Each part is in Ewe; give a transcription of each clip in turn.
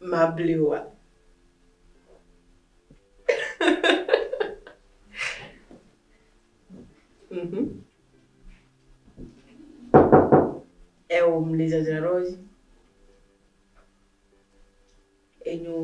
mablioa? Mhm. Eo mli dzadzraɖo dzi. Enyo.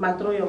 Matrɔ yɔ.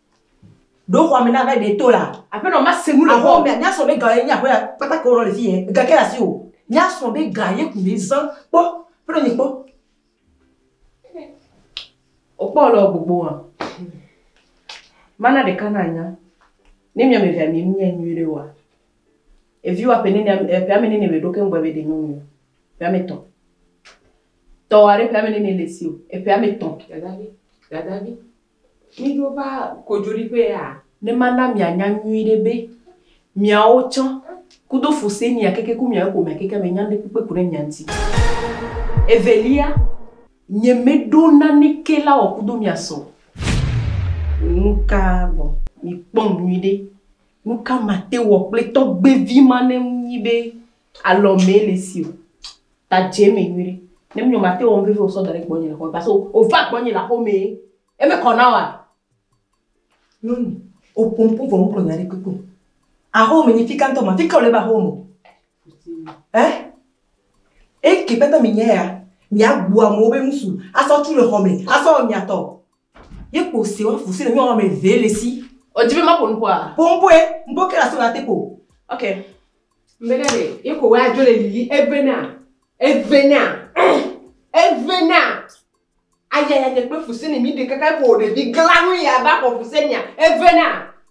Ɖo xɔa me na be ɖe to la. Aƒenɔ ma se nu le xɔa me. Mía srɔ̃ be ga ye nye aƒea kpata ke wònɔ le fiye, ga ke le asiwò. Mía srɔ̃ be ga ye ko mí zã. Kpɔ, aƒenɔ nye kpɔ. Wokpɔ wole wɔ gbogbo hã. Mana ɖeka na nya. Ne mía me vea mi nu nyɛ nyui ɖe oa, evi wa ƒe nene ame, ƒe ame nene me ɖo ke ŋgbe be ɖe nyɔnu o. Ƒe ame tɔ̃. Tɔa ɖe ƒe ame nene le esi o. Eƒe ame tɔ̃. Dadavi, dadavi. Míɖo va kodzoɖiƒea? Ne mana mianya nyuiɖe be, miawo tsã, kudo Fusenia keke ku miawo ƒomea keke me nya ŋɖekpekpe ko ɖe mia ŋti. Evelia, nyemeɖo naneke la wɔ kudo mia sɔ. Nuka gbɔ? Mikpɔm nyuiɖe. Nuka mate wɔ kple tɔgbevi ma ne ŋu nyi be Alɔ mele si o. Ta dze me nyuiɖe. Ne mi nɔ ma te wɔ nu vevi o sɔ da ɖe gbɔnye le xɔme parce que o va gbɔnye le aƒe me. Eme kɔ na wa? Nyɔnu, o ƒo ŋku vɔ o gblɔ nya ɖekpekpe o. Aƒe me nyi fika ŋtɔ ma. Fika o le va aƒe me o. Ɛ? Eke kpata mi nya ya? Mia gbu amewo be nusu asɔ tu le xɔme asɔ wɔ mia tɔ. Ye kpo se wa fuse le nyɔnu ame eve le si. O di be ma ƒo nu ƒoa? Ƒo nu ƒoe, nu ƒo ke la so la te ƒo. Ok. Mbe na le ye ko wa jo le lili eve na. Eve na. Eve na. Aya ya nye kpe fuse ne mi de kaka ko ɖevi gla nu ya ba ko fuse nya. Eve na.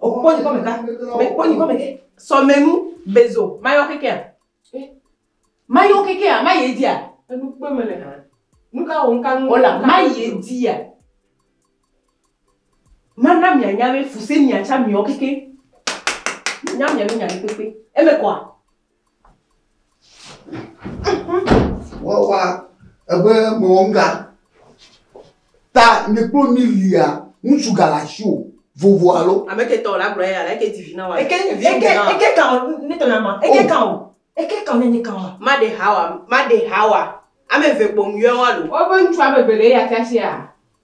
Okpɔ nyikɔ meka, mekpɔ nyikɔ meke. Sɔmenu, bezo, mayɔ kekea. Eh, mayɔ kekea, mayi edzia. Enu kpe mele hã. Nuka wɔ ŋka nu. Ola, mayi edzia. Mana mianya be fuse miatsa miɔ keke. Mianya miabe nya ɖe kpekpe. Eme kɔa? Wawa ebe mewɔ nu ɖa. Ta mi kpɔ mi lia ŋutsu ga le asi o. Vovo alo. Ame ke tɔ la gblɔ ya la ke di vi na wa. Eke eke eke kan ne tɔ na ma. Eke kan o. Eke kan ne ne kan wa. Ma de hawa ma de hawa. Ame ve kpɔ mu yɔ wa lo. Wo be ŋutsu ame ve le ya ta sia.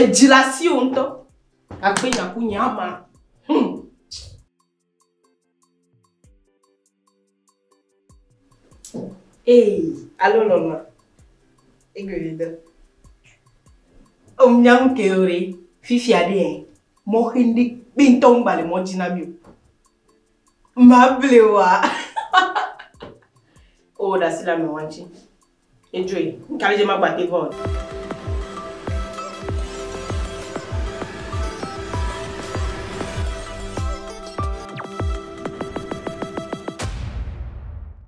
Edzi le asiwò ŋutɔ. Akpe nya ku nye ama. Hum. Ee, alo lɔlɔa. Egbeɖeɖe. Om nya ŋu ke ore. Fifia ɖe ɛ. Mɔ xe ndi kpe ŋutɔ ŋu ba le mɔ dzi na mi o. Ma blewa. O ɖasi la me wa ŋutsi. Edzoe. Nuka le dze magbate vɔ o?